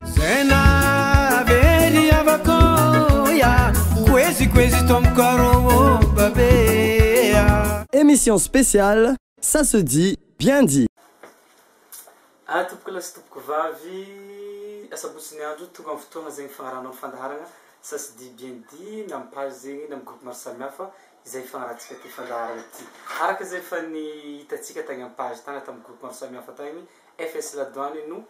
Zay nahavery havako ya Koezy koezy tompoko arô ô babe ya Emission spéciale ça se dit bien dit. Ah tompokolahy sy tompokovavy, asabotsy ny andro, tonga amin'ny fotoagna zegny fagnaranao ny fandaharagna ça se dit bien dit na amin'ny page zegny na amin'ny groupe maro samihafa izay ifagnarantsika ty fandaharagna ty. Araka izay efa nihitatsika tagny amin'ny page tagny na tamin'ny groupe maro samihafa tagny, FS La Douane no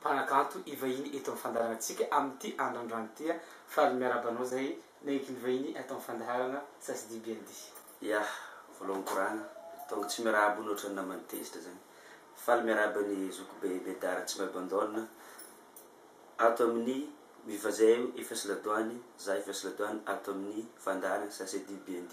mpanakanto hivahiny eto amin'ny fandaharanantsika amin'ity andro androany ity a! Faly miarahaba anao izay naiky nivahiny ato amin'ny fandaharana Sasidi BND. Ya! Voalohany korana, tonga tsy miarahaba ony ohatran'ny namany tezitra izany. Faly miarahaba ny zokibe Bedard Ratsimbaibandaonina ato amin'ny Viva Zay efa sy ladoany, za efa sy ladoany ato amin'ny fandaharana Sasidi BND.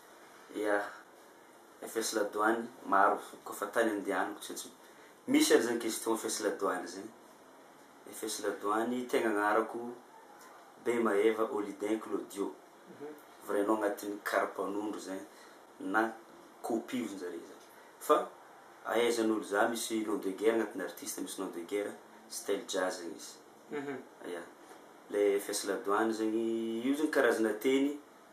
Yeah, fs la douane maro ko fa tany andehanako tsy tsy misy ary zany question fs la douane zany, fs la douane tegna agnarako Bemaeva Olidin Claudio, vrai nom agnatin'ny karapanondro zay na copie ozy njare zany fa ahaizan'olo za misy nom de guerre agnatin'ny artiste misy nom de guerre style jazz zany izy, yeah le fs la douane zany io zany karazana teny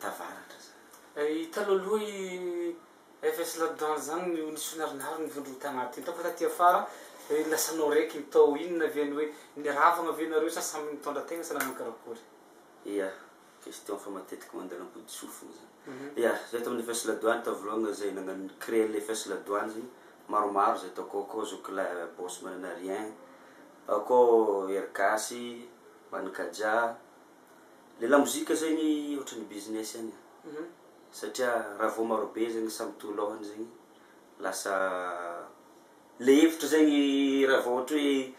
tavaratra zany. I talohaloha i FS Ladan zany no nisy finarinary ny vondrona tanaty hitako fa taty afara iny lasa anao raiky ny tao inona ve ny hoe niravagna ve nareo sa samy nitondra tegna sa nanao karakory? Ia, question fa matetiky mandeha lampodisofigny zany. Ia, zay tamin'ny FS Ladoany tao voloagna zay nagnano ni-créer le FS Ladoany zegny, maromaro zay tao akao, akao zoky lahy Boss Mananarien, ao koa Hery Gasy, Manikajà, Le lamozika zegny otrany business any a, satria raha vao marobe zegny samy to lôhany zegny lasa le hevitra zegny raha vao ohatra hoe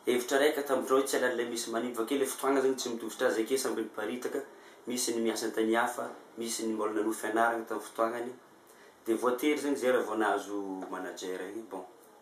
hevitra raika tamindrao hoe tsy halala le misy manimba avake le fotoagna zegny tsy mitovy tra zeke samby niparitaka misy ny miasa antany hafa misy ny mbola nanohy fianaragna tam fotoagnany de voatery zegny zay raha vao nahazo manager igny bon.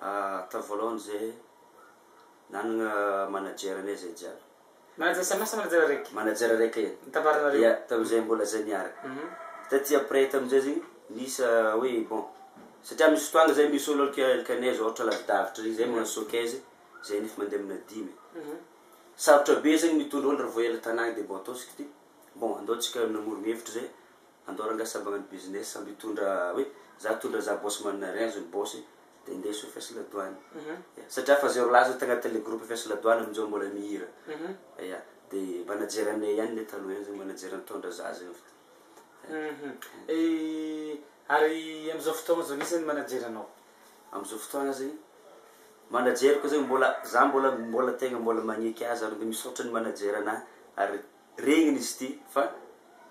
Hatao voalohany izay nanana manager anay izay jiaby. Manager samy hafa sa manager raika? Manager raika ihany. Nitambaranareo? Ia, tamin'izay mbola izay niaraka. Taty après tamin'izay zegny nisy hoe bon, satria misy fotoagna zay misy olo alika alika anay zao ohatra lavidavitra regny zay magnano showcase zay nefa mandeha amina dimy. Sarotra be zegny mitondra olo raha vao ela tanagna de bon ataontsika ty bon andao tsika namoron-hevitra zay Andao rangah sa magnano business sa mitondra hoe za hitondra za boss manana rien zao ny boss de indeso fs la douane ya satria fa zay rolahy zao tagnaty le groupe fs la douane amin'izao mbola mihira ya de manager anay ihany le taloha ihany zany manager nitondra za zay eo ary amin'izao fotoagna zao iza no manager anao? Amin'izao fotoagna zany manager ko zany mbola za mbola mbola tegna mbola magneky azy ary mbola misaotra ny manager anahy ary Regniny izy ity fa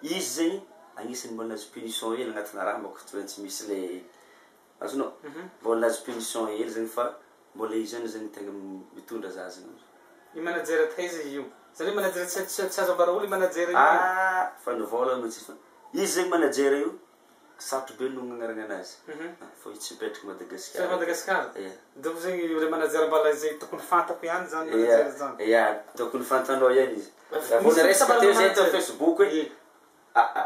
izy zegny agnisany mbô nahazo punition hely agnatina raha mbô k'toy tsy misy le azonao? Mbô nahazo punition hely zegny fa mbô le izy ihany zegny tegna mitondra za zegny amzao. I manager taiza io? Zany hoe manager tsy azo ambara olo i manager io? Ahh fa ny vôla mantsy fa izy zegny manager io. Sarotra be no agnaranana azy fa io tsy mipetraka Madagascar. Tsy Madagascar? Ia. Donc zegny ilay manajary mbala izay tokony fantako ihany zany manajary zany. Ia, tokony fantanao ihany izy. Raha vao niresaka teo zay teo facebook hoe aa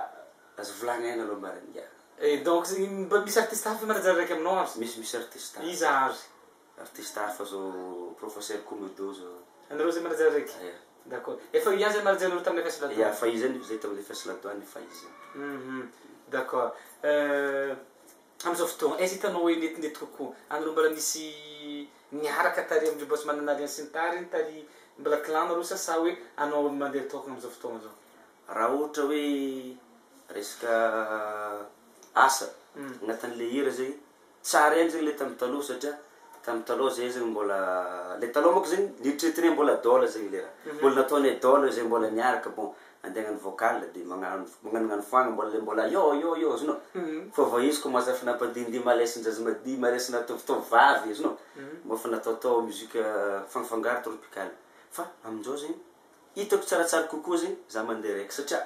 aza volagny aina aloha marigny. Ia. Donc zegny mba misy artiste hafa manajary araiky aminao ary? Misy misy artiste hafa. Iza ary? Artiste hafa fa zao professeur Komodo zao. Anareo zay manaja rege? Ya. D'accord. Efa io ihany zay manaja anareo tamina fest la douane? Ya, fa io zay no zay tamina fest la douane fa izy zay. Hum d'accord. Euh amizao fotoagna aiza hitanao hoe netinety kokoa? Anareo mbola misy miaraka tary amindreo boss mananariany sy ny tariny tary mbola clan nareo sa sa hoe anao mandeha tokana amizao fotoagna zao? Raha ohatra hoe resaka asa agnatin'ilay hira zay Tsy ary hainy zegny le tam taloha satria tam taloha zay zegny mbola le taloha manko zegny nieritreretinay mbola dol zegny le raha mbola nataonay dol zay mbola niaraka bon andeha agnano vocal de magnano magnanognano foagna mbola le mbola yo yo yo azonao fa vao izy commence efa nampadindihy malesin-jaza madihy malesinà tovotovovavy azonao mba efa nataotao musique fangafangaro tropical fa amin-jao zegny hitako tsaratsara kokoa zegny za mandeha raiky satria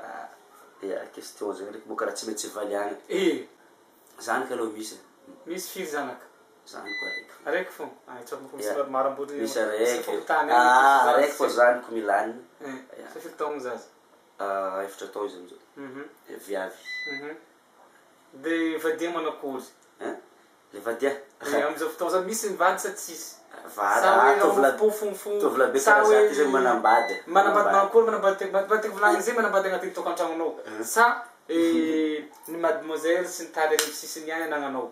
Aa eh question zay ndreky boka raha tsy maintsy valiagna eh! Zany ka aloha misy eh! Misy firy zanaka? Zany ko araiky fô. Araiky fô? Ay tsy ampoko misy maro maro ambotry misy araiky eh! Aa araiky fô zany ko milagny eh! Fa firy taogno zaza? Aa efatra taogno izy amizao eh! Viavy eh! Dia vadia manakory? Hein? Le vadia. Dia amin'izao fotoana izao misy ny vady sa tsisy? Vady, sa hoe tovolahy, pofompofo, tovolahy be sa hoe izy manambady, manambady manakory, manambady tena, mba tiko volagny ze manambady agnatin'ny tokantragnonao, sa ny mademoiselle sy ny tany any amin'ny sisiny ihany anagnanao?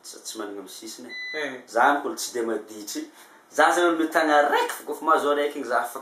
Za tsy managna amin'ny sisiny e, za mbola tsy dia maditry, za zany olo mitagna araiky fô, kôfa mahazo araiky igny za fa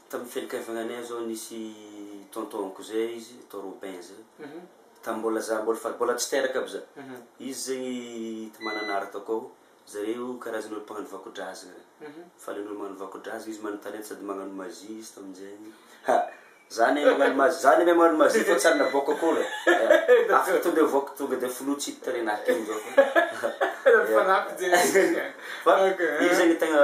Tamin'ny fianakaviagna anay zao nisy tonton-ko zay izy, tonton Robin zay, tamin'ny mbola za mbola fa mbola tsy teraka aby za. Izy zegny ta Mananara tao koa, zareo karazana olo mpagnano vakodrazagna regny. Falen'ny olo magnano vakodrazagna, izy magnana talenta sady magnano magie izy tamin'jegny. Ha! za ne magnano magie, za ne magnano magie fa tsy ary navoaka akory e! Afaka to de avoaka tonga de foloy tsy hita tarehy nahy kely zao fa. Fa izy zegny tegna.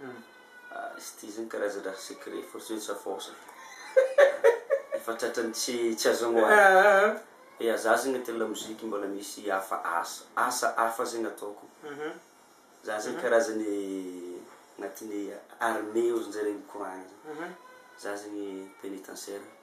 Hum tsy ity zany karazana secret force ny safaosa efa tratran'ny tsy tsy azo amoahana. Dia za zegny aty la musique mbola misy hafa asa asa hafa zegny ataoko. Za zegny karazan'ny agnatin'ny armée ozinjareo mikoragna zany. Za zegny pénitentiaire.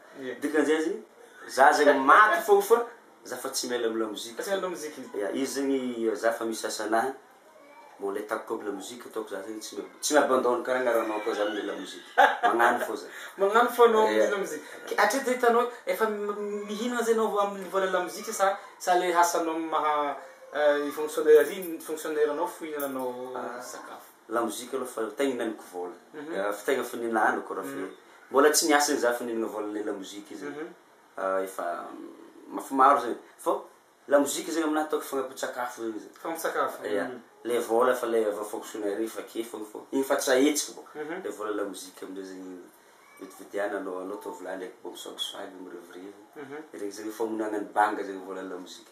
Ny dikany azy, za zegny maty fôgna fa za fa tsy miala amy lamoziky fô, ya izy zegny za fa misy asa anahy, bon le ataoko koa lamoziky ataoko za zegny tsy mi tsy mi abandonne karaha anareo anao koa za amle lamoziky, magnano fô za. Magnano fô anao amle lamoziky, ke hatreto zay hitanao efa mihinagna zay anao amle vola lamoziky sa sa le asanao maha i fonctionnaire i fonctionnaire anao fohinananao sakafo. La musique aloha fa tegna ihinanako vola, efa tegna fonenana haniko raha fe mbola tsy niasa zegny za fa nihinagna vola le la musique io zegny efa maf- maro zegny fô la musique zegny aminahy ataoko fagnampin-tsakafo zegny izy, Fagnampin-tsakafo, ya, le vola efa le avy fonctionnaire efa ake fô fô igny efa tsy ahitsiko bô, le vola la musique am'zay zegny vidividiana anao anao ataovy lahy ndraiky mbô misoakisoaky mirivirivy, regny zegny famonoagna ny banga zegny vola la musique.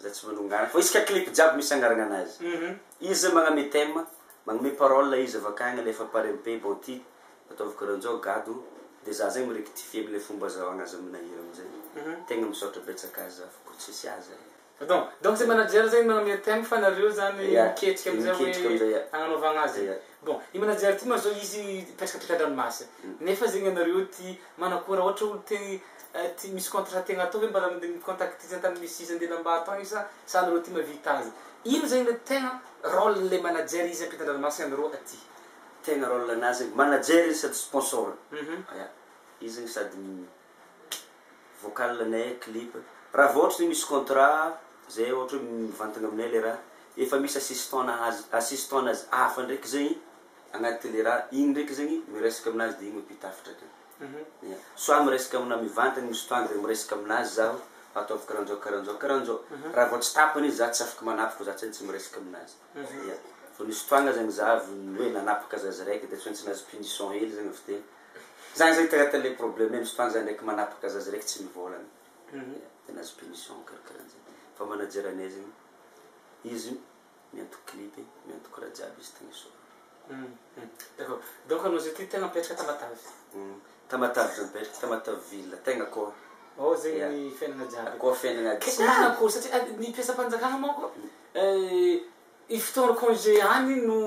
Za tsy manongana fa isaka clip jiaby misy angaragna anazy izy zany magname thème magnome parole izy avy akagny alefa par MP bon ty ataovy karanjao gado de za zegny mi rectifier amle fomba azahoagna azy amina hira amizay tegna misaotra betsaka azy za fô ko tsisy azy e. Donc donc zay manager zay magname thème fa nareo zany miketrika amizay hoe agnanaovagna azy. Bon, i manager ty ma zao izy hipetraka teto andranomasy nefa zegny anareo ty manakôry ra ôhatra olo te ty misy contrat tiagna atao hoe mba raha mi contacte ty antany misy izy andeha lamba atao io sa sa anareo ty mavita azy ino zegny le tegna role le manager izy ampita andranomasy anareo aty. Tegna role nazy zegny manager izy sady sponsor, ya izy zegny sady. vocal ny clip raha vao ohatra zay misy contrat zay ohatra hoe mivantagna aminay le raha efa misy assistant azy assistant nazy hafa ndraiky zegny agnaty le raha igny ndraiky zegny miresaka aminazy de igny no mpitafatra ka ya soit miresaka amina mivantagna misy fotoagna de miresaka aminazy zaho ataovy karanjao karanjao karanjao raha vao tsy tapany izy za tsy afaka manapaka fa za tsy maintsy miresaka aminazy ya fa misy fotoagna zegny za avy ny hoe nanapaka zaza raiky de tsy maintsy nahazo punition hely zegny avy teo. Zany zay traite le probleme misy fotoagna zay ndraiky manapaka zaza raiky tsy mivolagna tena azo punition karakaran zay fa manager anay zegny izy miantoko clip miantoko raha jiaby izy tena soa d'accord donc anao zay ty tegna mipetraka tamatave tamatave zay mipetraka tamatave ville tegna akao ao zegny ny fiainagna jiaby akao fiainagna jiaby kay tegna akao satria ny mpiasam-panjakana manko fotoagna congé ihany no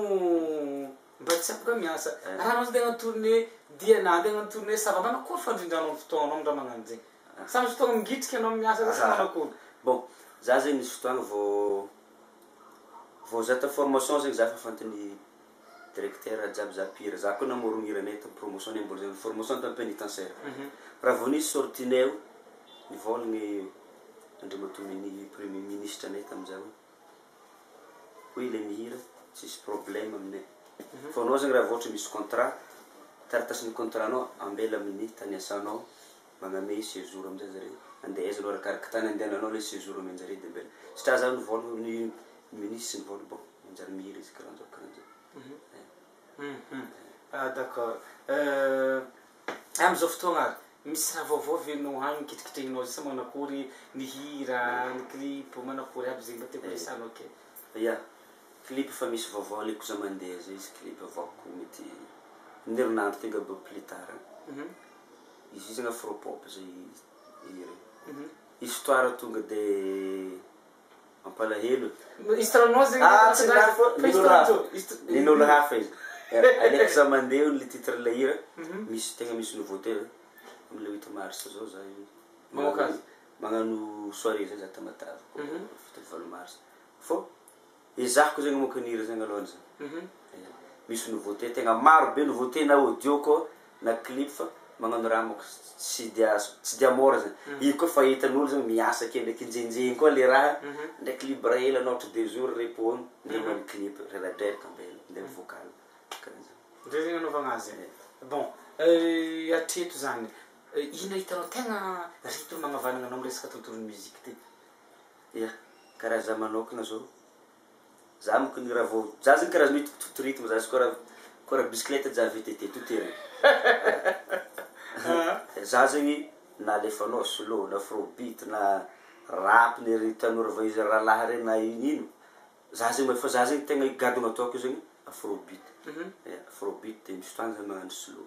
Mba tsy afaka miasa. Raha anao tsy te hanao tournée dia na andeha hanao tournée ça va manakory fandrindranao ny fotoananao ny raha magnano zegny. Sa misy fotoagna mingitrika anao miasa zay sa manakory. Bon, za zegny nisy fotoagna vao vao za ta formation zegny za fa fantan'ny directeur jiaby za mpihira. Za koa namorogno hiranay tam promotion nay mbola zegny formation tam penitentiaire. Raha vao nisy sortie nay o, nivôlagny Andriamatoa Mini premier ministre nay tam zay hoe. hoy ilay mihira, tsisy problème aminay fa anao zegny raha vao ohatra misy contrat taratasin'ny contrat nao ambela amin'ny tany iasanao magname séjour aminjay zare andeha aiza anao arakaraky tany andehananao ilay séjour omenjare de ambela satria za ny vôla ny minisy sy ny vôla bon manjary mihira izy karanjao karanjao. D'accord Amin'izao fotoana ary, misy raha vaovao ve no any kitikitrihinao zay sa manakory ny hira, ny clip, manakory aby zay mba tiako resahanao kely. Ya, clip efa misy vaovao aleko za mandeha zay izy clip avaoko mety amin'ny herinandro tonga be au plus tard any. Izy io zany afro-pop zay hira io. Histoire tonga de. Mampalahelo. Ah tsy lany foana, nin'olo hafa, nin'olo hafa izy. Aleoko za mandeha hono le titre le hira, misy tegna misy nouveauté zany, am le huit mars zao za mamoaka azy, magnano soirée zay za Tamatave ko fito amby valo mars, fô ezahiko zegny mamoaka ny hira zegny alôhany za, misy nouveauté tegna maro be nouveauté na audio koa na clip fa magnano raha manko tsy dia azo tsy dia mora zany io koa fa hitan'olo zany miasa kely ndreky njenjegny koa le raha ndreky libre ela anao ohatra deux jours repos iny ndre magnano clip reradreraka ambela ndre mivoaka alina karaha zany ndre zegny anaovagna azy e bon hatreto zany ino hitanao tegna rythme agnavahagna anao am resaka tontolon'ny musique ty? Ia, karaha za manokana zao. Za moko ny raha vao za zany karazana hoe to to rythme za tsy kora kora bicyclette ja VTT to terry za zegny na alefanao slow na afrobeat na rap ny ry tanora vao izy rahalahy reny na ino ino za zegny mahay fa za zegny tegna i gadona ataoko io zegny afrobeat afrobeat de misy fotoagna za magnano slow.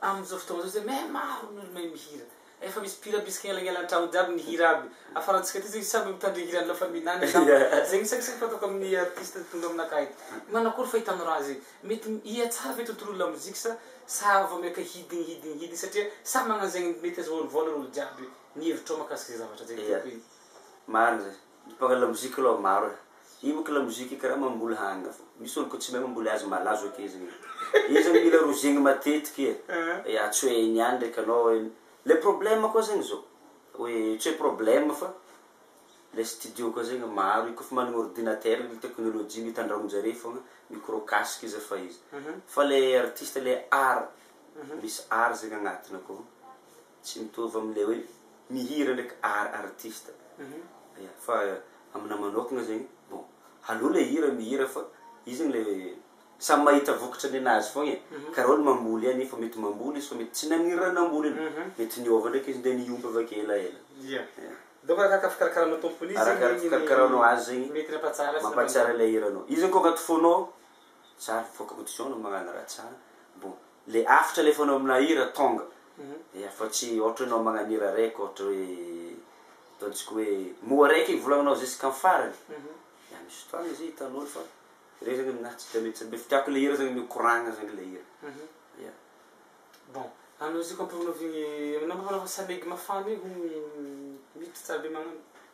Amin'izao fotoana izao zany eh maro ny olo mahay mihira, efa misy mpihira bisika elagnela an-tragno jiaby mihira aby, afarantsika aty zany samby mitandre hira ny lafiny mihinana angamba, zegny saka saka fataoko amin'ny artiste tonga aminakahy eto, manao akory fahitanao raha zay? mety hiha tsara ve tontolon'ny lamoziky sa sa vao miaka hidigny hidigny hidigny satria samy magnano zegny mety azahoany vôla olo jiaby, ny hevitrao mahakasika zay zavatra zay tompoko e. Marigny zay. Ny mpanao lamoziky aloha maro e. Io manko lamoziky karaha mamboly hanina fô. Misy olo koa tsy mahay mamboly azy malazo ake zegny e. Io zany mila rozegny matetiky e. Ya tsy hoe hainy ihany ndraiky anao hoe, le problème koa zegny zao, hoe tsy hoe problème fa le studio koa zegny maro io kaofa managna ordinateur le technologie mitandragnon-jare fogna, micro casque izy efa izy. Fa le artiste le art, misy art zegny agnatiny akao. Tsy mitovy am le hoe mihira ndraiky ar artiste ya fa amina manokana zegny bon aleo le hira mihira fa izy zegny le samy mahita vokatra ninazy fogna e kara olo mamboly any fa mety mamboly izy fa mety tsy naniry raha namboly iny mety niova ndraiky izy nde nihomby avake elaela ya donc arakaraka fikarakaranao tompony izy zegny arakaraka fikarakaranao azy zegny mety nampahatsiahy azy mampahatsiahy le hiranao izy zegny ko agnaty fônao Zah mivoaka mody zao no magnano rajah bon le afitra le fanao amina hira tonga e afa tsy ohatra enao magnano hira raiky ohatra hoe ataontsika hoe moa raiky igny volagninao jusqu'en farany ya misy fotoagna izy io hitan'olo fa reo zany aminahy tsy de mety sambe fa tiako le hira zany mikoragna zany le hira ya. Bon, anao izy io ka ampivonavigny aminao magnano samaigy mafana io miditra tsara be magnano.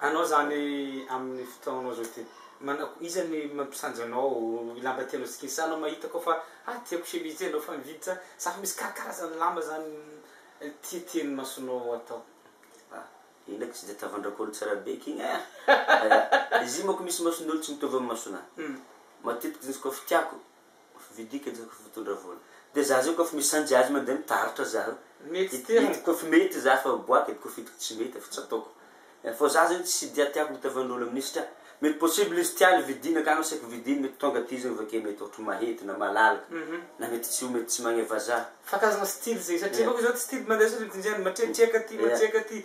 Anao zany aminy fotoagnanao zao ty manako iza ny mampisanjy anao ny lamba tianao sikisana anao mahita koa fa ah tiako chemise ty anao fa mividy za za fa misy karakarazany lamba zany tia tia ny masonao atao ah. Ina aky tsy de tavandrako olo tsara be aky igny eh! Izy io manko misy mason'olo tsy mitovy am masonah. Matetiky izy koa fa tiako Vidiako enjehiko fotondra vola de za zay kof misanjy azy mande mitaratra zaho mety kof mety za fa miboaka de kof hitako tsy mety de efa tsy ataoko fô za zegny tsy dia tiako mitavanolo aminy satria mety possible izy tiany vidiny akagny asaiko vidiny mety tonga aty izy avy ake mety ôhatra mahety na malalaka na mety tsy ho mety tsy magneva za. Fa karazagna style zegny satria bôka izy zao style mandeha sôrtiny zegny matretreka aty matretreka aty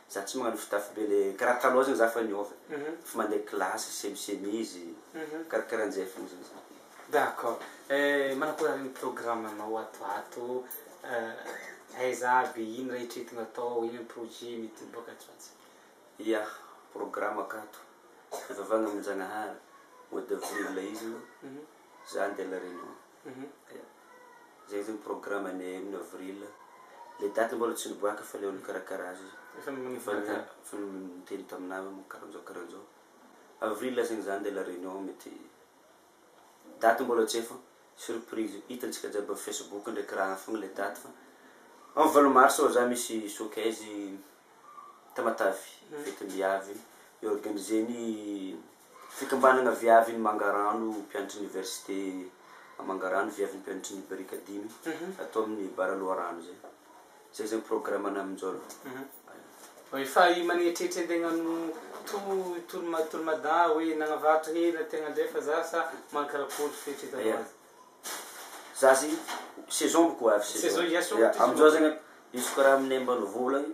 Za tsy magnano fitafy be le karaha kalozina za fa niova fa mandeha classe semi chemise karakarahan'izay fotsiny za. D'accord eh, manakory ary ny programme nao ato ato eh, aiza aby, ino raha etreto no atao, ino ny projet mety hiboaka atsy ho atsy. Ia, programme ka ato, fivavahagna amin-Jagnahary, mois d'avril izy no za handeha la Réunion. Zay zao programanay amin'ny avril, le date mbola tsy niboaka fa le olo nikarakara azy efa niteny taminah hoe moa karanzao karanzao, avril lasa iny zany de la réunion mety date mbola tsy hay fa surprise io, hitantsika jiaby am facebook ndraiky raha fogna le date fa am valo mars oa za misy showcase Tamatave, fetim-biavy io, i organiser-ny. Fikambanana Viavy ny Mangarano mpianatry ny Oniversite Mangarano Viavy ny mpianatry ny Barika dimy ato amin'ny Bara Loharano izay. Izay izany programme-na amin-jaolo. Efa maneritreritry an-tegna hanao tour tour ma tour mada hoe nagnavarotra hena tegna ndray fa za sa mankarakory fieritreretanao Yeah. azy? Za zegny saison boko avy saison. Saison hiasy ohatra izy Amin'izao zegny an, izy karaha aminay ambanivola agny.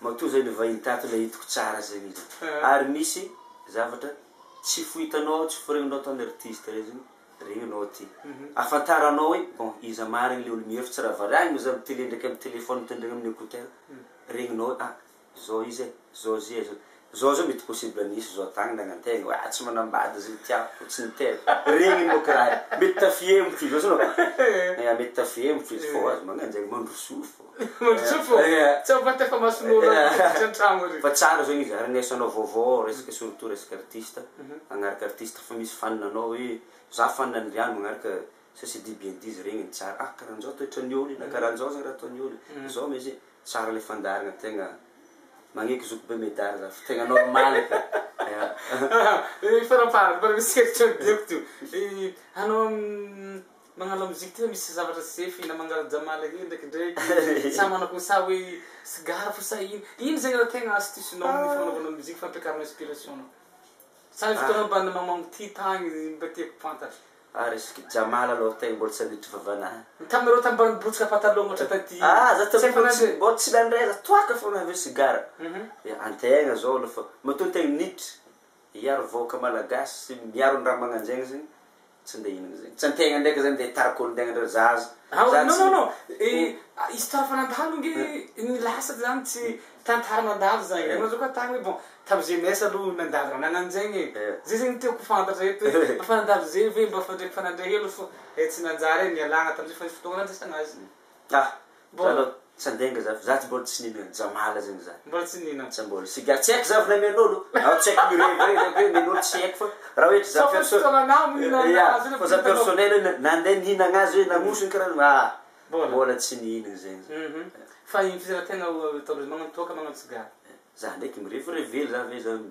Matoa zay le vahiny tato le hitako tsara zay mintsy ary misy zavatra tsy fohitanao ao tsy foregnonao tao ny artiste reo zany reo enao ty afantaranao hoe bon iza marigny le olo mihira fa tsy raha variagny za mi tele ndraiky amy telephone mitondregna amy écouteur regninao hoe ah zao izy e zao zia zao Zao zao mety possible mihintsy zao atangina gnantegna oa tsy manambady zay tiako tsy ny tena regny moa kiraha e mety tafihemo ty zao zao eeh mety tafihemo ty fô aza magnano zegny mandroso fô mandroso fô eeh tsy ampy vata efa mason'olo aby ty miditra antragno ary fa tsara zao izy aharegneso anao vaovao ao resaka surtout resaka artiste magnaraka artiste fa misy fan anao hoe za fan an'ndry any magnaraka Ça c'est dit bien dit izy regny tsara ah karanjao toetran'ny olo na karanjao zegny raha ataon'ny olo e zao me izy tsara le fandaharagna tegna magneky zoky be medary za fa tegna normal e fa ny faraparany mbola misy hevitra ny diako to hanao magnano la musique tegna misy zavatra sefy na mangala jamala hely ndraikindraiky sa manao ko sa hoe sigara fo sa ino ino zegny raha tegna astuce nao amin'ny fagnanovana musique fampiakarana inspiration nao Saingy fotoana mba namamango ty tagny ry mba tiako fantatra. Ary zoky Jamala aloha tegna mbola tsy nandritry vavana an. Ny taminareo tany mba nibotsika patalogno ôhatra taty. Ah za taloha mbola tsy mbola tsy nandray za toaka fôgna avy eo sigara. Dia antegna zao aloha fa matoa antegna niditra hiaro vahoaka malagasy sy miaro ny raha magnanjegny zegny Tsy nde hihinana zegny. Tsy antegna ndraika zany nde tara kony tegna ndray zaza. Ah oui non non non eh histoire fa nandalo nge ny lasak zany tsy tantara nandalo zany ianao zao ka tany hoe bon tam jeunesse aloha nandalo raha nananjegny e zay zegny tiako ho fantatra eto hoe efa nandalo zay ve mba fandraiky fa nandray helo fô eh tsy nanjary e nialagna tamzay fa fotoagna nandraisagna azy. Ka. Mbola. Tsy andenga za. Za tsy mbola tsy nino an'i Jamala zegny za. Mbola tsy nino. Tsy mbola. Tsy ga- tsy haiko za avy namian'olo. Zaho tsy haiko mirevirevy hoe mian'olo tsy haiko fa raha hoe za perso- Fa fotoana anah mo nihinanana Ia, azy iny fa za personnel hoe na- nandeha nihinagna azy hoe nagnosiny karaha zany aa Mbola. mbola tsy nihinagna zegny za. Hum Fa ino fizara-tegna ataondreo magnano toaka magnano sigara? Za ndraiky mirevirevy hely za ve zany.